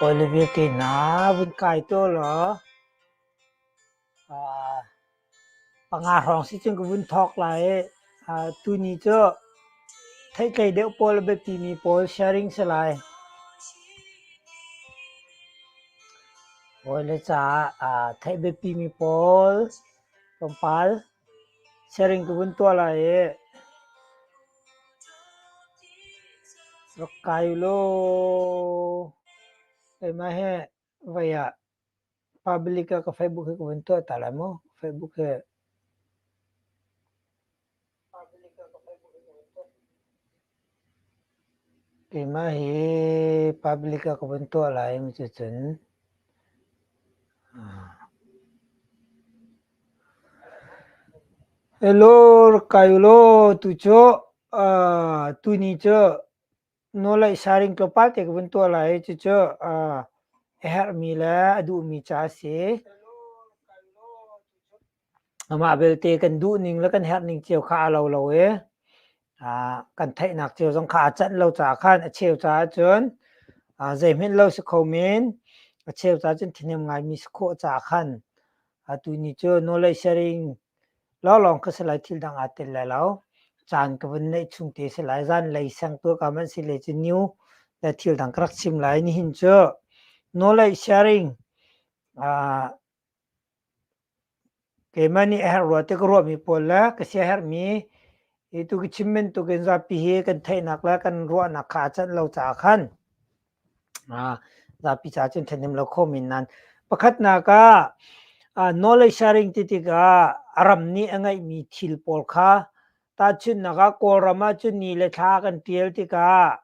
Olivier na vun kai taw law panga hrawng si cun ka vun thawk lai i tuni cu theihtlei deuh pawl le biapimi pawl sharing si lai. Hawi le caah theih biapimi pawl tlawmpal Siaring ka vun tuah lai i rak kai ulaw keimah hi voi ah public ah ka Facebook hi ka vun tuah ta lai maw? Facebook hi Keimah hi public ah ka vun tuah lai mi cu cun "Hello rakai ulaw tucu tuni cu nawlaih saring tlawmpal te ka vun tuah lai i cucu a herhmi le a duhmi ca a si." Amah belte kan duhning le kan herhning cio kha a lo lo i kan theihnak cio zong kha aa canh lo caah khan a cheu caah cun zeihmanh lo si kho men a cheu caah cun ṭhihnem ngaimi si khawh caah khan atu ni cu nawlei siaring lawnglawng ka si lai thil dang aa tel lai lo. Caan ka vun neih chung te si lai. Zanlei sengtu ka hmanh si le cu niu le thil dang ka rak chim lai. Nihin cu nawlei siaring Keimah nih a herh rua ti ka ruahmi pawl le ka sia a herhmi hi tu ka chim bantuk in zapi hi kan theihnak le kan ruahnak kha a canh lo caah khan zapi caah cun ṭhahnem lo kho men nan. Pakhatnak ah knowledge sharing ti tikah a ram nih a ngeihmi thil pawl kha tahchunhnak ah Kawlram ahcun ni le thla kan ṭial tikah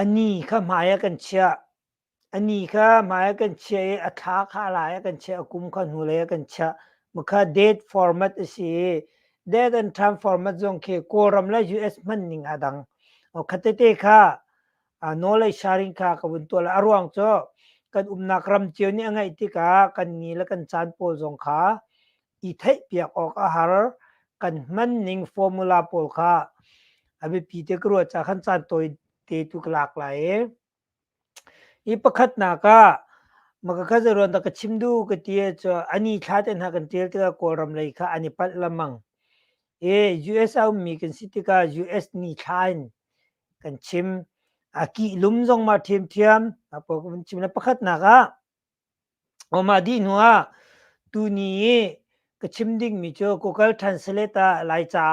Ani kha hmai ah kan chiah. Ani kha hmai ah kan chiah i a thla kha lai ah kan chiah, a kum kha hnulei ah kan chiah. Mukha date format a si i date and time format zong khi Kawlram le US hman ning a dang. Khatete kha nawl le sharing kha ka vun tuah. A ruang cu kan umnak ram cio nih a ngaih tikah kan ni le kan caan pawl zong kha i theihpiak awk a har. Kan hman ning formula pawl kha a biapi te ka ruat cah khan caan tawi te tu ka lak lai i. I pakhatnak ah maka kha zaruan da ka chim du ka ti ah cu ani thla te hna kan tial tikah Kawlram lei kha an i palh lamang. I US a ummi kan si tikah US ni thla in kan chim. A kih lum zong ma ṭhiamṭhiam. A pawh kan chim. Na pakhatnak ah Mah dih hnuah tuni i ka chim dingmi cu Google Translate ah Laica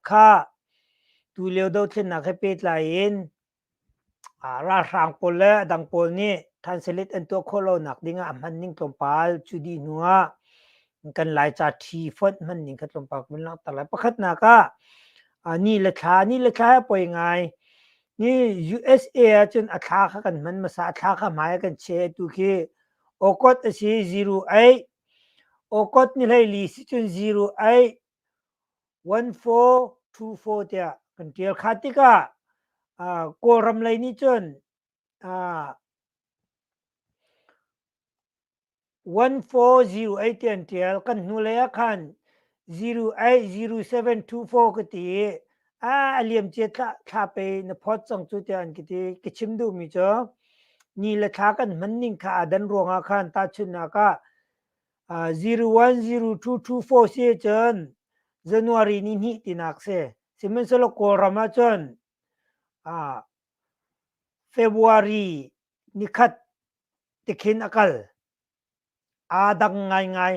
kha tulio dothlennak he pehtlai in ralhrang pawl le a dang pawl nih translate an tuah khawh lonak dingah a hmanning tlawmpal cu dih hnuah kan Laica ṭhi fonh hmanning kha tlawmpal kan vun langhter lai. Pakhatnak ah ni le thla, ni le thla he poi ngai Hi USA ahcun a thla kha kan hman hmasa, a thla kha hmai ah kan che tu khi Okot a si ziru aih. Okot ni hlei li si cun ziru aih. 1424 tiah kan tial. Kha tikah uh, Kawlram lei nih cun uh, one four zero eight tian tial kan hnu lei ah khan zero eight zero seven two four ka ti i a liam cia thla pe na phot cang cu tiah an ki ti ka chim duh mi cu ni le thla kan hman ning kha adan ruang ah khan ta chun nak ah zero one zero two two four si cun january ni hni tinak se sihmanhsehlaw kawlram ah cun february ni khat tikhin a kal. Aa dang ngaingai.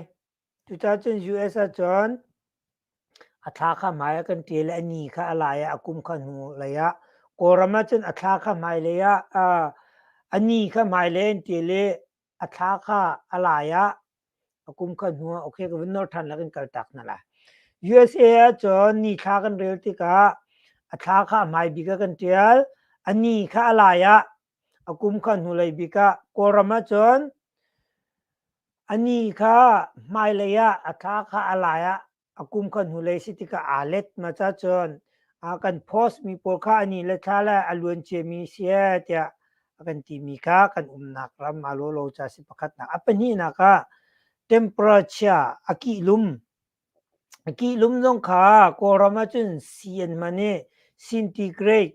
Cucaah cun US ahcun a thla kha hmai ah kan ṭial i a ni kha a lai ah a kum kha hnu lei ah Kawlram ahcun a thla kha hmai lei ah aa a ni kha hmai lei an ṭial i a thla kha a lai ah a kum kha hnu ah okay ka vun nawr ṭhan lakin kaltak hna lai. USA ahcun ni thla kan rel tikah a thla kha a hmai bik ah kan ṭial, a ni kha a lai ah a kum kha hnulei bik ah Kawlram ahcun a ni kha hmailei ah a thla kha a lai ah a kum kha hnulei si tikah aa let ma ca cun a kan post mi pawl kha a ni le thla le a luan ciami si tiah a kan timi kha kan umnak ram a lolo ca si pakhatnak a pahnihnak ah temperature a kih lum a kih lum zong kha kawlram ahcun cn man i centigrade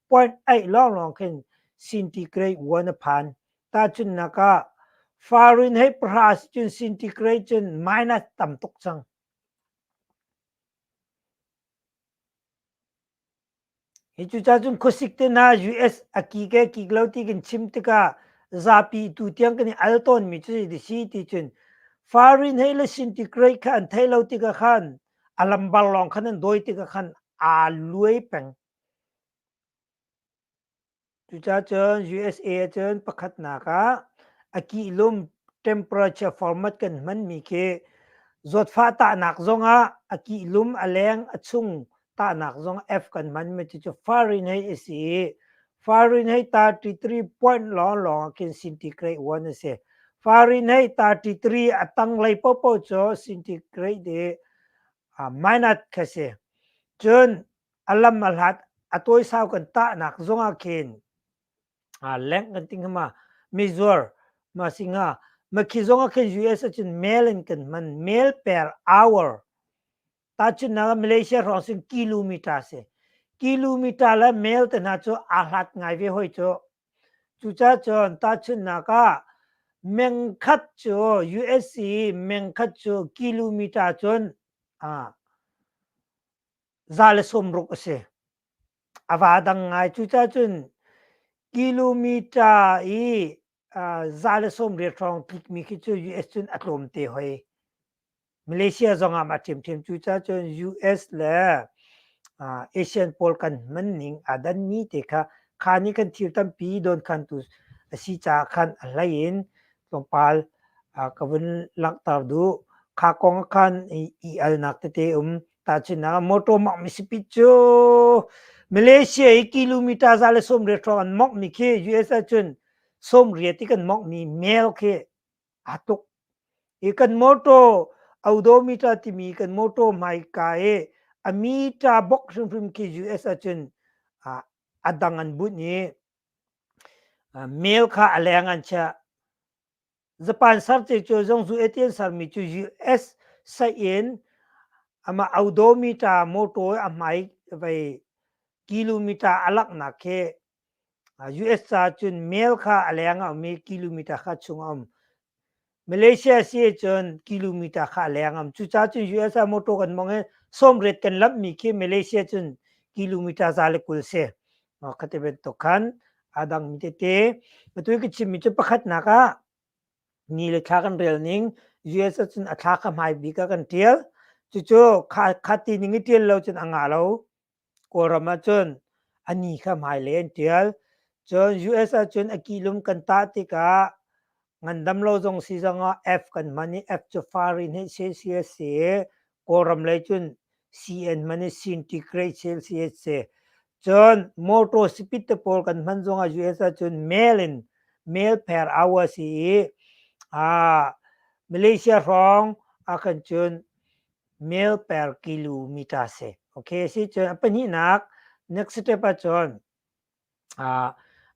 puanh aih lawnglawng khin centigrade one a phan. Tahchunhnak ah, Fahrenheit pahra si cun centigrade cun minus tam tuk cang. Hi cu cacun khuasik te hna US a ki ke kik lo ti kan chim tikah zapi tu tiang kan i al tawnmi cu si si ti cun Fahrenheit le centigrade kha an thei lo tikah khan a lambar lawng khan an dawi tikah khan aa luai peng. Cucacun USA ahcun pakhatnak ah a kihlum temperature format kan hmanmi khi zawtfah tahnak zongah a kihlum a leng a chung tahnak zong F kan hmanmi cucu Fahrenheit a si i Fahrenheit 33 point lawnglawng ah khin centigrade 1 a si. Fahrenheit 33 a tanglei paohpaoh cu centigrade i uh, minus kha si. Cun a lam a hlat a tuaisau kan tahnak zongah khin aa lengh kan ting hama Mizuur ma singa makhi zongah khin US acun mail in kan hman mail per hour ta cun na Malaysia rong sin kilometer si kilometer le mail te hna cu aa hlat ngai ve hoi cu cuca cun ta chun naka mengkhat cu USC mengkhat cu kilometer cun a za le sawmruk a si. A va dang ngai. Cucacun kilometer i uh, za le sawmriat hrawng tlikmi khi cu US cun a tlawm te hoi. Malaysia zongah ma ṭhiamṭhiam. Cucacun US le uh, Asian pawl kan hman ning aa danmi te kha kha nih kan thil tampi don khan tu a si caah khan a hlei in tlawmpal uh, ka vun langhter duh. Kha kong khan i, i alnak tete um ta china motor mak mi speed cu Malaysia i kilometer za le som re tro an mok mi khi US ah cun som ria ti kan mok mi mail khi a tuk i kan motor odometer timi kan motor hmai ka i a meter bok hrim hrim khi US ah cun a dang an bunh i mail kha a leng an chiah Japan sarce cu zong zu etian sarmi cu US sain ama odometer motor a hmai vai kilometer a laknak khi US ca cun mail kha a leng a um i kilometer kha chung a um. Malaysia si cun kilometer kha a leng a um. Cuca cun US a motor kan mong i somret kan lamhmi khi Malaysia cun kilometer za le kul si. Khati ti bantuk khan aa dangmi tete. Atu ka chimmi cu pakhatnak ah ni le thla kan rel ning US ahcun a thla kha hmai bik ah kan ṭial. Cucu kha khati ning i ṭial lo cun a nga lo. Kawlram ahcun a ni kha hmai lei an ṭial. Cun US ahcun a kihlum kan tah tikah Ngandam lo zong si zongah F kan hman i F cu far in hei si si a si. Kawlram lei cun CN hman i Sintigrade si si a si. Cun motor speed te pawl kan hman zongah US ahcun mail in mail per hour si i aa Malaysia hrawng ahkan cun mail per kilometer si. Okay, a si cun a pahnihnak next step ahcun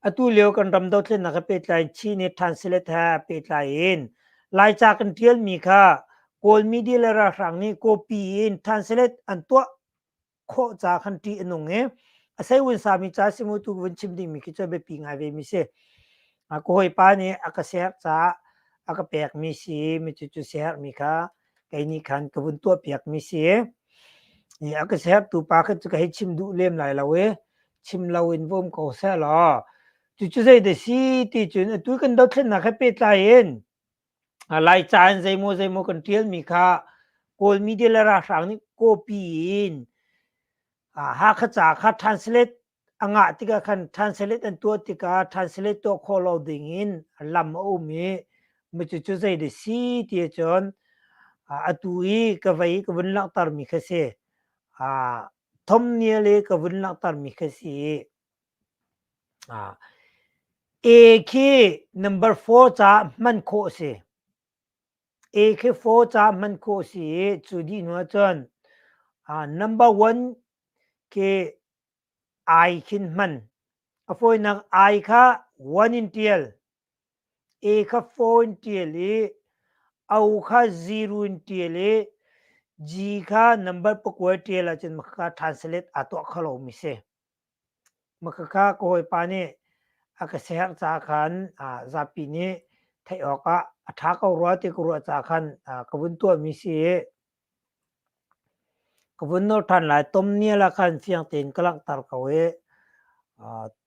Atu lio kan ram dothlennak he pehtlai Chin he translate he pehtlai in Laica kan ṭialmi kha Kawl media le ralhrang nih copy in translate an tuah khawh ca khan ṭih a nung i a sei vun sami ca si mu tu vun chim dingmi khi cu a biapi ngai vemi si. Ka hawipa nih a ka siarh caah a ka pekmi si i micu cu siarhmi kha kei nih khan ka vun tuahpiakmi si i a ka siarhtu pa kha cu ka hei chim duh lem lai lo i chim loin vawm ko seh law cucu zeidah si ti cun atu kan dothlennak he pehtlai in laica in zeimaw zeimaw kan ṭialmi kha kawl media le ralhrang nih copy in hakha ca kha translate a ngah tikah khan translate an tuah tikah translate tuah khawh lo ding in lam a um i cucu zeidah si ti cun atu i ka vei ka vun langhtermi kha si Thawmngia le ka vun langhtermi kha si. Ah, A khi number four ca hman khawh a si. A khi four ca hman khawh a si i cu dih hnu ahcun ah, number one khi I khin hman. A fawinak I kha one in ṭial. E kha fawn ṭial i o kha zirun ṭial i G kha number pakua ṭial ahcun makhakha translate aa tuah kho lomi si. Makhakha ka hawipa nih a ka siaherh ca khan zapi nih theih awkah a ṭha ko rua ti ka ruah ca khan ka vun tuahmi si i ka vun nor ṭhan lai. Tomnial ah khan fiang tein ka langhter ko i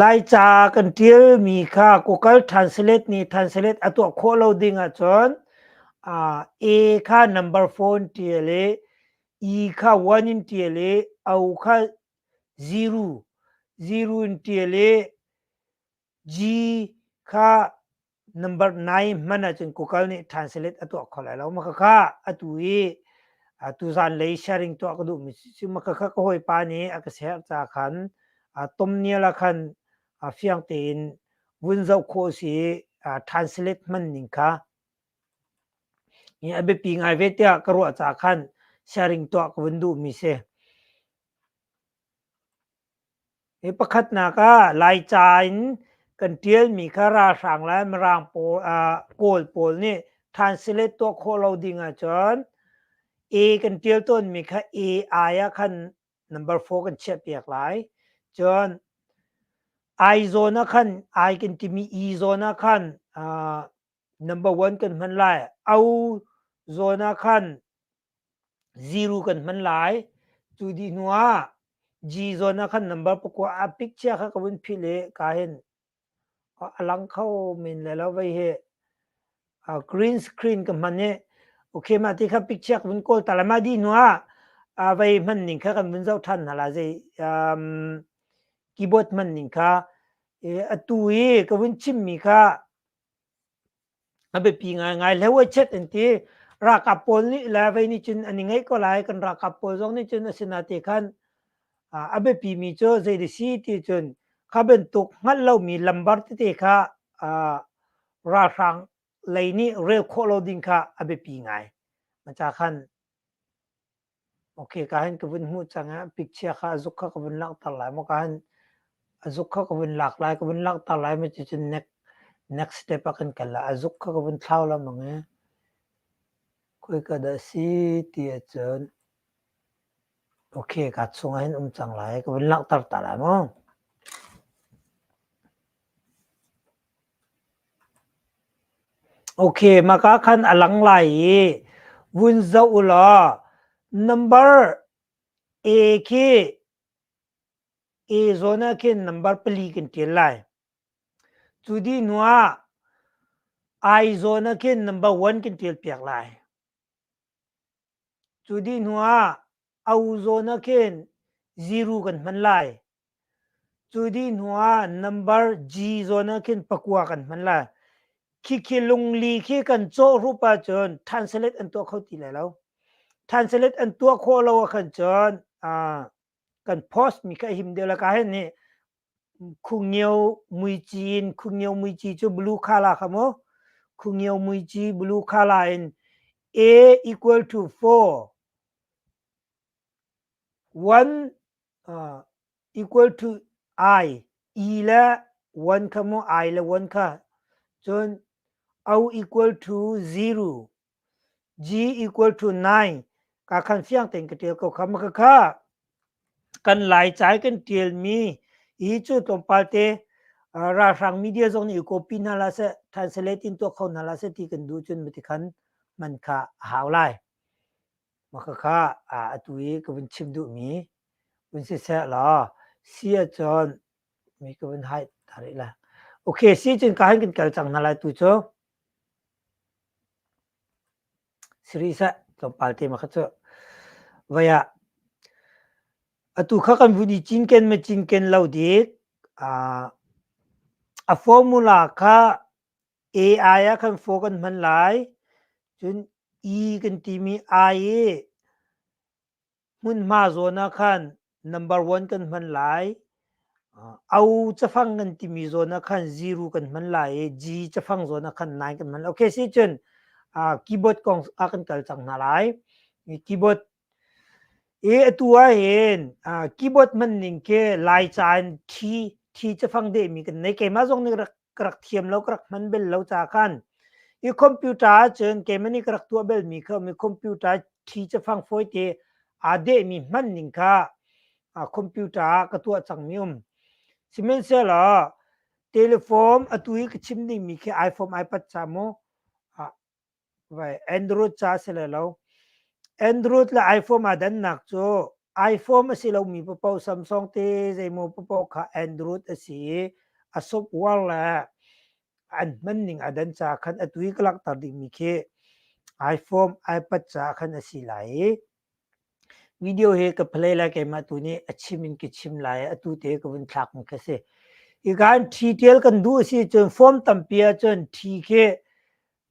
Laica kan ṭialmi kha kukal ṭhanselet nih ṭhanselet a tuah khawh lo ding ahcun A kha number phone ṭial i E kha one in ṭial i O kha zero zero in ṭial i G kha number 9 hman ahcun Google nih translate a tuah kho lai lo. Makhakha atu i a tuzan lei sharing tuah ka duhmi si. Makhakha ka hawipa nih a ka share ca khan tomnial ah khan fiang tein vun zoh khawh si translate hman ning kha a biapi ngai ve tiah ka ruah ca khan sharing tuah ka vun duhmi si. Hi pakhatnak ah Laica in kan ṭialmi kha ralhrang le mirang pawl Kawl pawl nih translate tuah khawh lo ding ahcun A kan ṭial tawnmi kha AI ah khan number four kan chiahpiak lai. Cun I zawn ah khan I kan timi E zawn ah khan number one kan hman lai au zawn ah khan zero kan hman lai tu dih hnu ah g zawn ah khan number pakua a picture kha ka vun philh i ka hin a lang kho men le lo vei hi a green screen ka hman i okay ma ti kha picture ka vun kawl ta la ma di hnu ah a vei hman ning kha kan vun zoh than hna la zei um, keyboard hman ning kha e, atu i ka vun chim mi kha A biapi ngaingai. Le huachet an ti. Ralkap pawl nih le vei nih cun an i ngeih ko lai. Kan ralkap pawl zong nih cun a si na ti khan a biapimi cu zei di si ti cun kha bantuk hngalh lomi lambar tete kha ralhrang lei nih rel khawh lo ding kha a biapi ngai. Macah khan. Ok, ka han ka vun hmuh cang ah picture kha azuk kha ka vun langhter lai maw ka han azuk kha ka vun lak lai ka vun langhter lai maw cucun next next step ah kan kal ah azuk kha ka vun thlau lengmang i koi ka dah si ti ahcun ok ka chung ah hin um cang lai ka vun langhter ta lai maw Maka khan a lang lai i vun zoh u law number A khi A zawn ah khin number pali kan ṭial lai. Cu dih hnuah I zawn ah khin number one kan ṭial piak lai. Cu dih hnuah a u zawn ah khin ziru kan hman lai. Cu dih hnuah nambar G zawn ah khin pakua kan hman lai. Khikhi lungli khi kan cawhrup ahcun thanselet an tuah kho ti lai lo. Thanselet an tuah khawh lo ahkhan cun aa kan post mi ka him deuh la ka hen hi khungio muici in khungio muici cu blue colour kha mu khungio muici blue colour in a equal to 4 1 uh, equal to i e la 1 kha mu i la 1 kha cun au equal to 0 g equal to nine ka khan fiang tein ka ṭial ko kham ma khakha kan laica i kan ṭialmi hi cu tlawmpal te ralhrang media zong nih i copy hna la seh translate in tuah kho hna la seh ti kan duh cun mati khan man kha a hau lai ma khakha atu i ka vun chim duhmi vun si seh law si ahcun mi ka vun hai ta rih le. Ok, si cun ka han kan kal cang hna lai tu cu. Siri seh, tlawmpal tema kha cu. Vaya, atu kha kan vun i cinken me cinken lo dik. Uh, a formula kha AI ah khan fo kan hman lai. Cun E kan timi I i hmunhma zawn ah khan number one kan hman lai au cafang kan timi zawn ah khan zero kan hman lai i g cafang zawn ah khan nine kan hman lai okay si cun keyboard kong ah kan kal cang hna lai keyboard e atu ah hin keyboard man ning ke lai caan thi thi cafang de mi kan nei keima zong nih rak ka rak thiam lo ka rak hman bel lo ca khan i computer ahcun keimah nih ka rak tuah belmi kha mi computer thi ca fang fawi te aa dehmi hman ning kha computer ah ka tuah cangmi um sihmanhsehlaw telephone atu i ka chim dingmi khi iphone iPad ca mu vai Andrew ca si le lo Andrew le iPhone a dannak cu iPhone a si lomi papo Samsung te zeimaw papo kha Andrew a si i a software le an hmanning a dan ca khan a tui ka langhter dingmi khi iPhone iPad ca khan a si lai i Video hi ka play lai keimah tu nih a chim in ka chim lai i atu te ka vun thlak mi kha si. I kan ṭhi ṭial kan duh a si cun form tampi ahcun ṭhi khi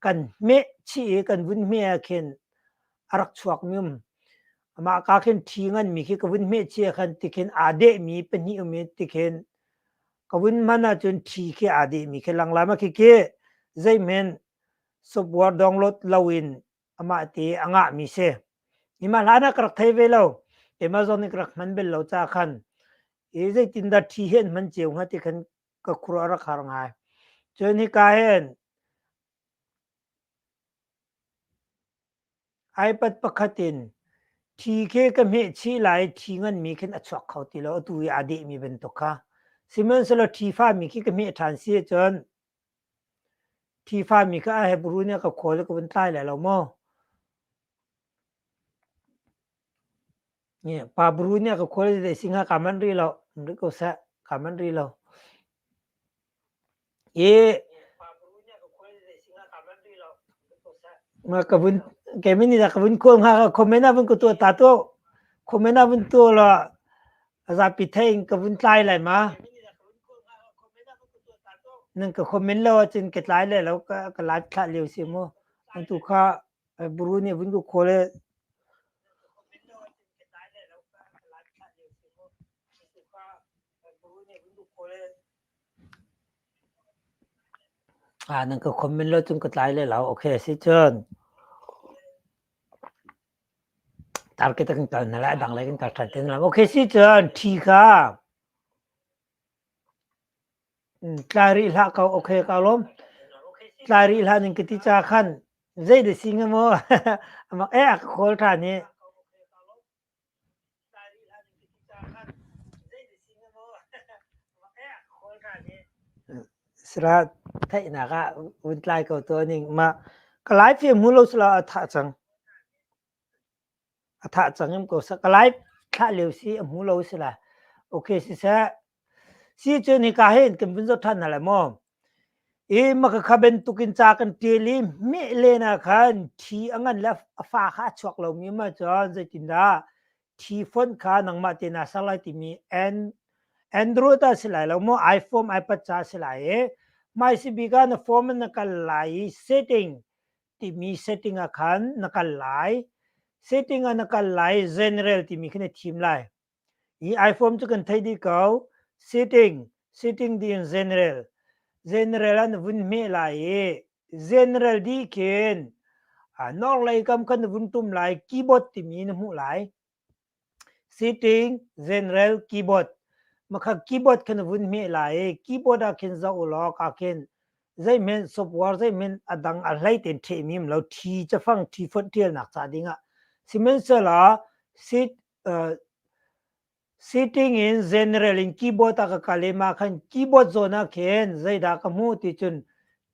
kan hmeh chih i kan vun hmeh ahkhin a rak chuak mi um. Amah ka khin ṭhi ngan mi khi ka vun hmeh chih ahkhan tikhin aa deh mi pahnih um i tikhin ka vun hman ahcun ṭhi khi aa deh mi khi langlam ah khikhi zeihmen software download lo in amah ti a ngah mi si nimah hlan ah ka rak thei ve lo Amazon i ka rak hman bel lo ca khan i zeitindah thi hen hman ceu hnga ti khan ka khur a rak har ngai cun hika hen iPad pakhat in thi khi ka hmeh chih lai thi ngan mi khin a chuak kho ti lo atu i aa deh mi bantuk kha sihmanhsehlaw thi fa mi khi ka hmeh ṭhan si ahcun Thifami kha a Hebru nih a ka khawl i ka vun tlai lai lo maw? Pa buru nih a ka khawl i zei si hnga kaa manh rih lo, in rit ko seh, kaa manh rih lo. I nga ka vun kei min nih ka vun kawl hnga ka comment ah vun ka tuah ta tuah. Comment ah vun tuah law A zapi thei in ka vun tlai lai ma. Nan ka komen lo ahcun ka tlai lai lo ka, ka live thlah lio si mu. An tu kha eh, buru nih vun ku khawl eh, Ah, nan ka komen lo cun ka tlai lai lo. Okay, si cun. Tarkett a kan kal hna lai, dang lei kan kal ṭhan ti hna lo. Okay si cun ṭhi kha tlai rih hlah ko, okay ka lawm. Tlai rih hlah ning ka ti ca khan zei da si hnga maw? Amak ee a ka call ṭhan i. Sira theihnak ah vun tlai ko tuah ning. Mah Kalay film hmu lo sila a thah cang. A thah cang im ko sah. Kalay thlah lio si a hmu lo sila. Okay siseh. Si cu nika hin kan vun zoh ṭhan hna lai maw? I makhakha bantukin ca kan ṭial i meh len ah khan thi a ngan le a fa kha a chuak lomi um ahcun zeitindah thi font kha nangmah te naa ser lai timi Android ah si lai lo maw iPhone iPad ca si lai i hmai si bik ah na form in na kal lai i setting timi setting ah khan na kal lai. Setting ah na kal lai general timi khi na thim lai. i iPhone cu kan thei dih ko. Sitting, sitting di in general. General an vun hme lai i general dih khin a nor lei kam kan vun tum lai keyboard timi na hmuh lai. Sitting, general, keyboard. Makhat keyboard khan vun hme lai i keyboard ah khin zoh u law ka khin zeihmen software zeihmen a dang a hlei tein ṭhehmim lo ṭhi cafang ṭhi fonh ṭialnak ca dingah. Sihmanhsehlaw sit uh, sitting in general in keyboard a ka kale ma khan keyboard zona khen zaida ka mu ti chun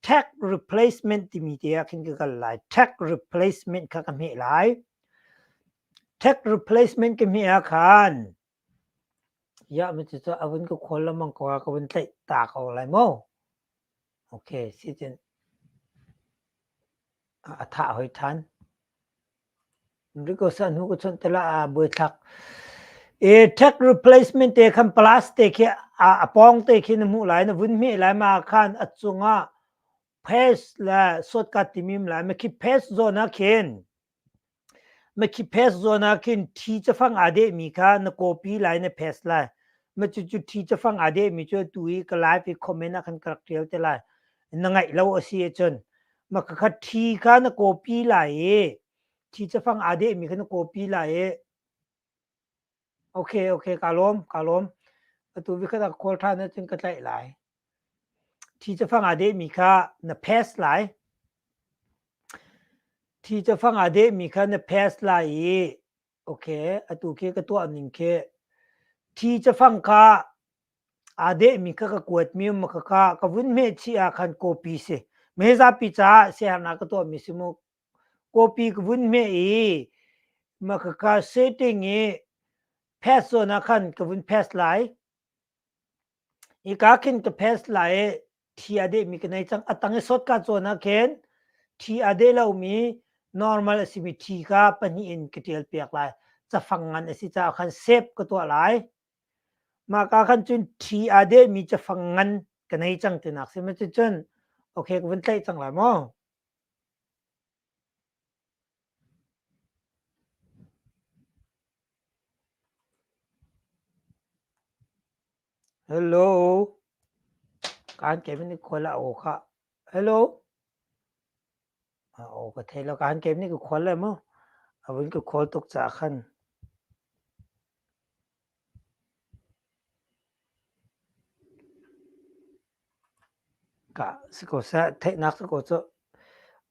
tech replacement ti mi te a khin ka kal lai tech replacement kha ka me lai tech replacement ke me a khan ya mi chu chu avun ko khol lamang ko ka vun tlai ta ko lai mo A thah hoi than. Rico san hu ka chawnh tala a buaithlak. E tech replacement te khan plus te khi a pong te khi na mu lai na vun hme lai ma khan a chunga pass la shortcut timim lai ma khi pass zona khen Makhiphest zawn ah khin thi cafang aa dehmi kha na copy lai na paste lai. Cucu thi cafang aa dehmi cu atu i ka live i comment ah khan ka rak ṭial te lai. Na ngaih lo a si ahcun. Ma kakhat thi kha na copy lai i thi cafang aa dehmi kha na copy lai i Okay, okay, ka lawm, ka lawm. Atu vi khat a khual than cun ka tlaih lai. Thi ca fang a de mi kha na pass lai. Thi ca fang a de mi kha na pass lai i okay, atu khi ka tuah ning khi thi ca fang ka a de mi kha ka kuat mi ma ka ka ka vun me chi a khan copy si. Me za pi ca se har na ka tuah mi si mu Kawpi ka vun meh i Makaka setting i pass zawn ah khan ka vun pass lai. Hika khin ka pass lai i thi a dehmi ka nei cang. A tang i sotka zawn ah khin thi a deh lomi normal a simi thi kha pahnih in ka ṭial piak lai. Cafang ngan a si caah khan save ka tuah lai. Mahka khan cun thi a dehmi cafang ngan ka nei cang tinak si. Cuticun okay ka vun tlaih cang lai maw? Hello. Kaan kem ni khual a aw kha. Hello. A aw ka thei lo kaan kem ni ka khual em maw? Avun ka khual tuk cah khan. Kah si ko seh, theihnak si ko cuh.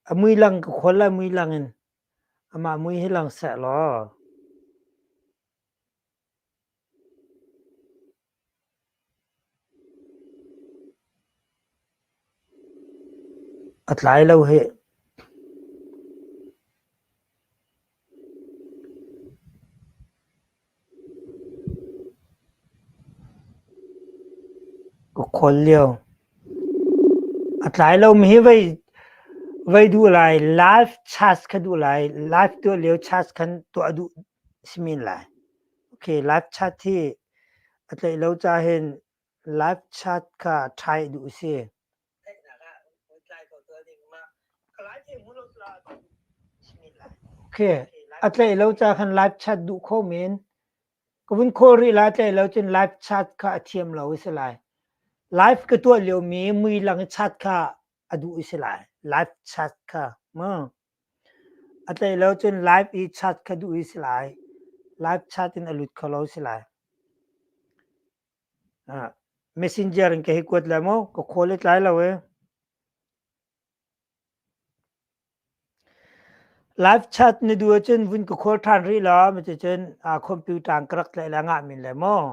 A mui lang ka khual lai mui lang in amah mui hi lang seh law. A tlai lo hih. Ka khual lio. A tlai lomi hi voi, voi duh lai. Live chats kha duh lai. Live tuah lio chats khan tuah duh a si men lai. Okay, live chat hi a tlaih lo ca hin live chat kha try duh a si. Okay, a tlaih lo ca khan live chat duh kho men. Ka vun khawl rih lai tlaih lo cun live chat kha a thiam lo a si lai. Live ka tuah liomi mui lang i chat kha a duh a si lai. Live chat kha. Ma? A tlei lo cun live i chat kha duh hi si lai. Live chat in a lut kho lo si lai. Messenger in ka hi kuat lai maw? Ka khawl i tlai lo ee. Live chat na duh ahcun vun ka khawl ṭhan rih law, macicun computer in ka rak tlaih le ngah men lai maw?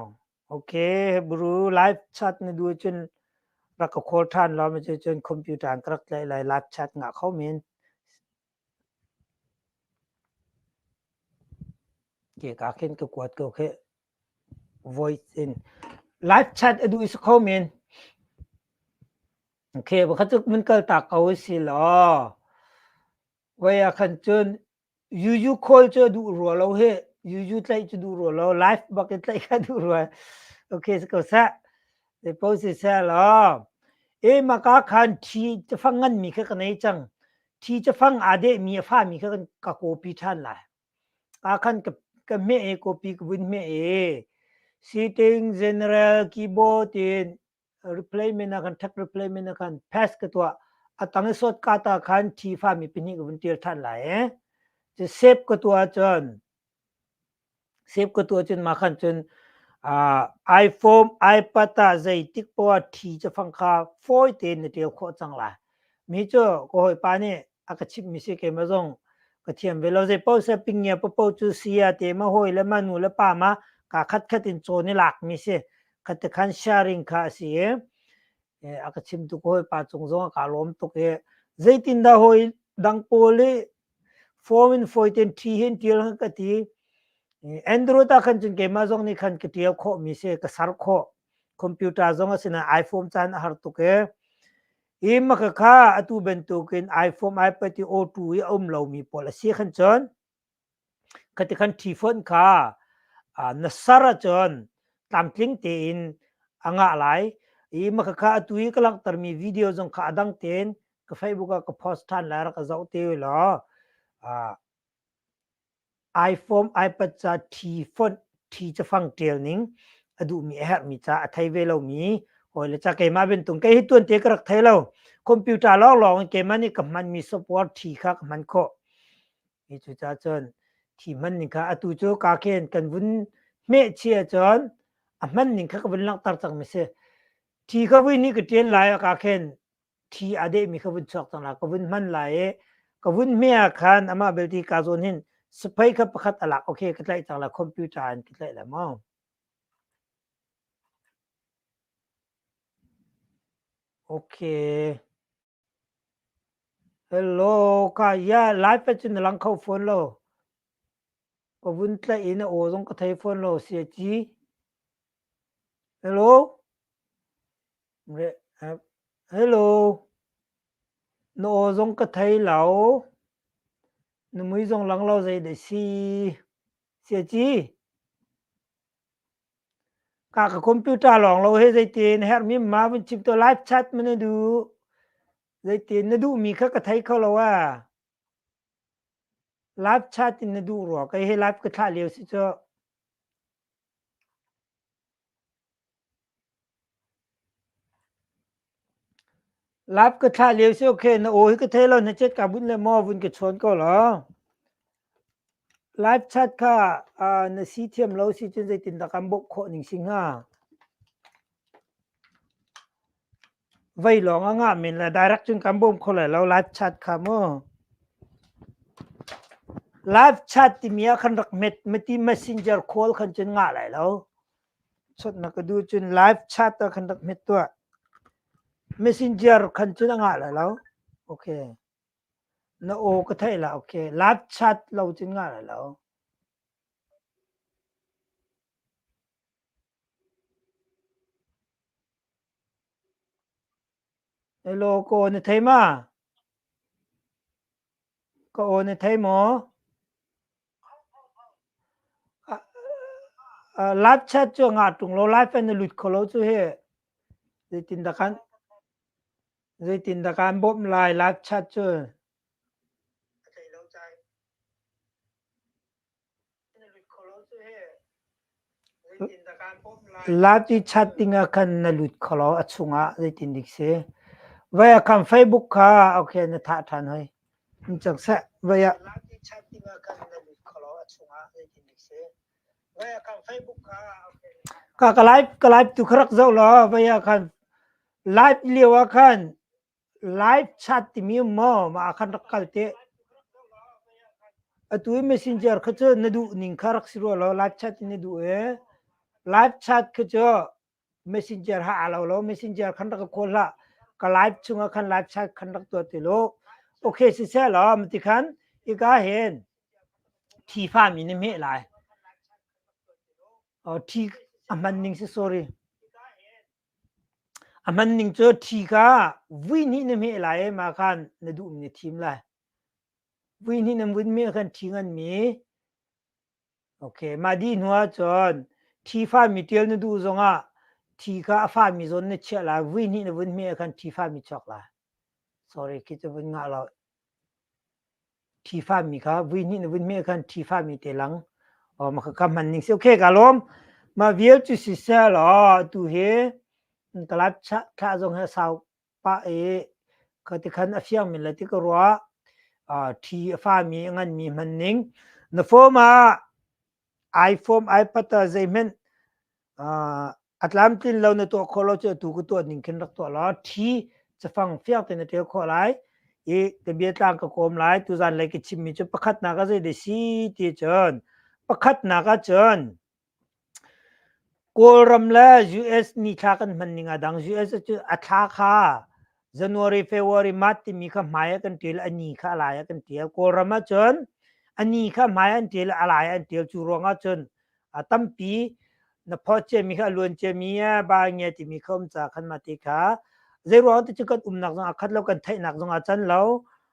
Okay, Hebrew live chat ni du cun rak ka call than lo mi cu cun computer an rak tlai lai live chat nga kho min. Ke ka khin ka kuat ko ke voice in live chat adu is kho min. Okay, bakhat mun kal tak ko si lo. Waya khan cun Yuyu khawl cu a duh rua lo hi. Yuyu tlaih cu duh rua lo. Live bak i tlaih kha duh rua. Okay, si ko seh. Zepo si seh law. E maka khan thi cafang ngan mi kha ka nei cang. Thi cafang aa deh mi a fa mi kha kan ka copy ṭhan lai. Aa khan ka, ka hmeh e, copy ka vun hmeh e. Sitting, general, keyboard in replay mena kan thak replay mena kan pass ka tua atang sot ka ta khan thi fa mi pini ka vun tir than lai eh che save ka tua chon save ka tua chun ma khan chun uh, iPhone iPad ta zeitik po thi cha phang kha phoi te ne tel kho chang la mi chu ko hoi pa ni aka chip mi si ke ma zong ka thiam ve lo ze po se ping ya po po chu sia te ma hoi le ma nu le pa ma ka khat khat in cho ni lak mi si khatekhan sharing kha a si i a ka chim tuk hoi pa cung zong a ka lawm tuk i zeitin dah hoi dang pawl i form in foiten thi hin tial han ka ti andrew ta khan cun keimah zong nih khan ka tial khawh mi se ka sar khawh computer zong a sina iphone caan a har tuk e i maka kha atu bantukin iphone ipad i o2 i a um lo mi pawl a si khan cun ka ti khan ṭhi fawn kha na sar ahcun tlamtling tein a ngah lai i makhakha atu i ka langhtermi video zong kha a dang tein ka facebook ah ka post ṭhan lai rak ka zoh te law iphone ipad ca ṭhi fonh ṭhi cafang ṭial ning a duhmi a herhmi ca a thei ve lomi hawi le ca keimah bantuk kei hi tuan te ka rak thei lo computer lawng lawng in keimah nih ka hmanmi software ṭhi kha ka hman khawh Hi cu ca cun thi hman ning kha atu cu ka khen kan vun hmeh chia cun a hman ning kha ka vun langhter cang mi si. Thi ka vui ni ka ṭen lai a ka khen thi a deh mi ka vun chuak cang la ka vun hman lai i ka vun hme ah khan amah belte ka zawn hin siphei kha pakhat a lak okay ka tlaih cang la computer in ka tlaih la maw. Okay. Kaya lai pei cu na lang kho fawn lo. Ka vun tlaih i na aw zong ka thei fawn lo, siaci. Hello? Hello? Na aw zong ka thei lo. Na mui zong lang lo zei deh si. Siaci? Ka ka computer lawng lo hi zeitin herhmi ma vun chim tuah live chat ma na duh? Zeitin na duhmi kha ka thei kho lo a. Live chat in na duh rua kei hi live ka thlah lio si cuh. Lap ka thlah lio cio khi na aw hi ka thei lo na cet kaa bunh le maw vun ka chawn ko law. Live chat kha aa na si thiam lo si cun zeitindah kan bawmh khawh ning si hnga? Vei lawng a ngah men le direct cun kan bawm kho lai lo live chat kha mu. Live chat timi ah khan rak met, meti messenger call khan cun ngah lai lo. Chawt na ka duh cun live chat ah khan rak hmet tuah. Messenger khan cun a ngah lai lo. Okay. Na aw ka theih la, okay. Live chat lo cun ngah lai lo. Hello, ka aw na thei ma? Ka aw na thei maw? Lifechat cu a ngah ṭung lo. Life in a lut kho lo cu hi zeitindah kan, zeitindah kan bawmh lai. Lifechat cu Lati chat dingah khan na lut kho lo a chungah zeitindik si. Vai ah khan Facebook kha ok na thah ṭhan hoi. Um cang seh, vai ah. Ka ka live ka live tu kha rak zoh law vai ah khan live lio ah khan Live chat timi um maw mah ah khan rak kal teh. Atu i messenger kha cu na duh ning kha rak si rua law live chat in na duh e. Live chat kha cu messenger ha aa lo lo messenger khan rak ka kawl hlah. Ka live chungah khan live chat khan rak tuah ti lo. Okay siseh law mati khan ika hen thifa mi na meh lai. Oh, thi a hman ning si sorry. A hman ning cu thi kha vui hnih na hmeh lai i mah khan na duh in na thim lai. Vui hnih nan vun hmeh khan thi nganmi okay mah dih hnuah cun thi fahmi ṭial na duh zongah thi kha a fahmi zawn na chiah lai vui hnih na vun hmeh khan thi fahmi chuak lai. Sorry khi cu vun ngah lo. Ṭhifa mi kha vuihnih na vun meh khan ṭhifa mi te lang ma ka kam hman ning si. Okay, ka lawm. Ma vial cu sisel aw atu hi kalap thlah zong he sau pah i ka ti khan a fiang men le ti ka ruah. Ṭhi a fa mi a ngan mi hman ning. Na fom ah. iPhone, iPad ah zeihmanh a tlamtlin lo na tuah khawh lo cu atu ka tuah ning khin rak tuah law thi cafang fiang tein na ṭial khawh lai i ka bia tlang ka kawm lai tuzan lei ka chimmi cu pakhatnak ah zeidah si ti cun pakhatnak ah cun Kawlram le US nithla kan hman ning a dang US cu a thla kha January February March timi kha hmai ah kan ṭil ani kha alai ah kan ṭil Kawlram ah cun ani kha hmai an ṭil alai an ṭil cu ruang ah cun a tampi na phot cemi kha luan cemi ba nge timi kha um ca khan ma ti kha zei ruang te cu kan umnak zong a khat lo kan theihnak zong a can lo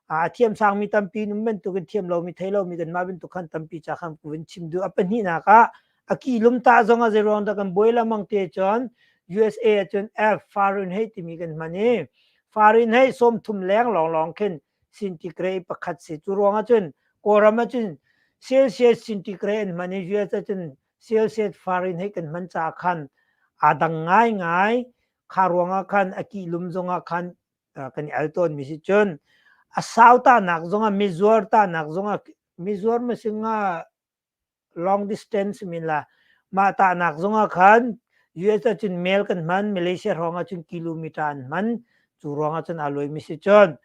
a thiam sangmi tampi num bantukin thiam lomi thei lomi kanmah bantuk khan tampi ca khan kuvin chim duh a pahnihnak ah a ki lumta zong a zeiruang dah kan buai lamang te cun USA cun F foreign hei timi kan hman i foreign hei som thum leng long long khin sintigrade pakhat si cu ruang ahcun kawlram ahcun Celsius sintigrade an hman i US ahcun Celsius foreign hei kan hman ca khan aa dang ngai ngai kha ruangah khan a ki lum zongah khan kan i al tawnmi si cun a sau tanak zongah mizuar tanak zongah mizuar masinga long distance min la mah tahnak zongah khan US ahcun mail kan hman Malaysia ruang ahcun kilometer an hman cu ruang ahcun aa loi mi si cun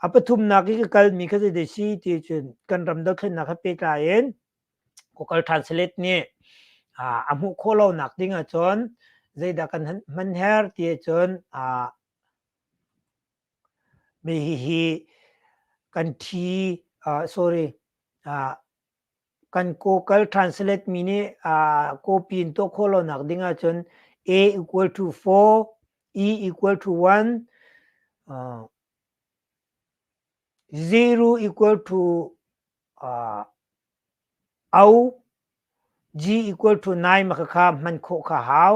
a pathumnak i ka kalmi kha zei si ti cun kan ram dothlennak ha pehtlai in Google Translate nih a hmuh khawh lonak ding ahcun zeidah kan hman her ti cun Hihi kan thi sorry kan Google Translate mi nih copy in tuah khawh lonak ding ahcun A equal to four, E equal to one, zero equal to Au G equal to nine ma khakha hman khawh kha hau.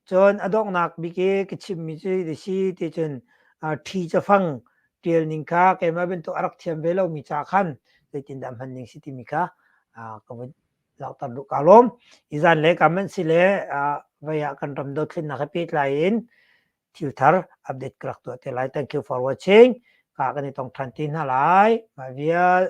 Cun a donghnak bik i ka chimmi cu ti si ti cun ṭhi cafang ṭialning kha keimah bantuk a rak thiam ve lomi ca khan zeitindah hman ding si timi kha ka vun langhter duh kaa lawm. Hi zan le ka hmanh si le vei ah kan ram dothlennak he pehtlai in thil thar update ka rak tuah te lai. Thank you for watching. Ka kan i tong than ti hna lai. Mah vial.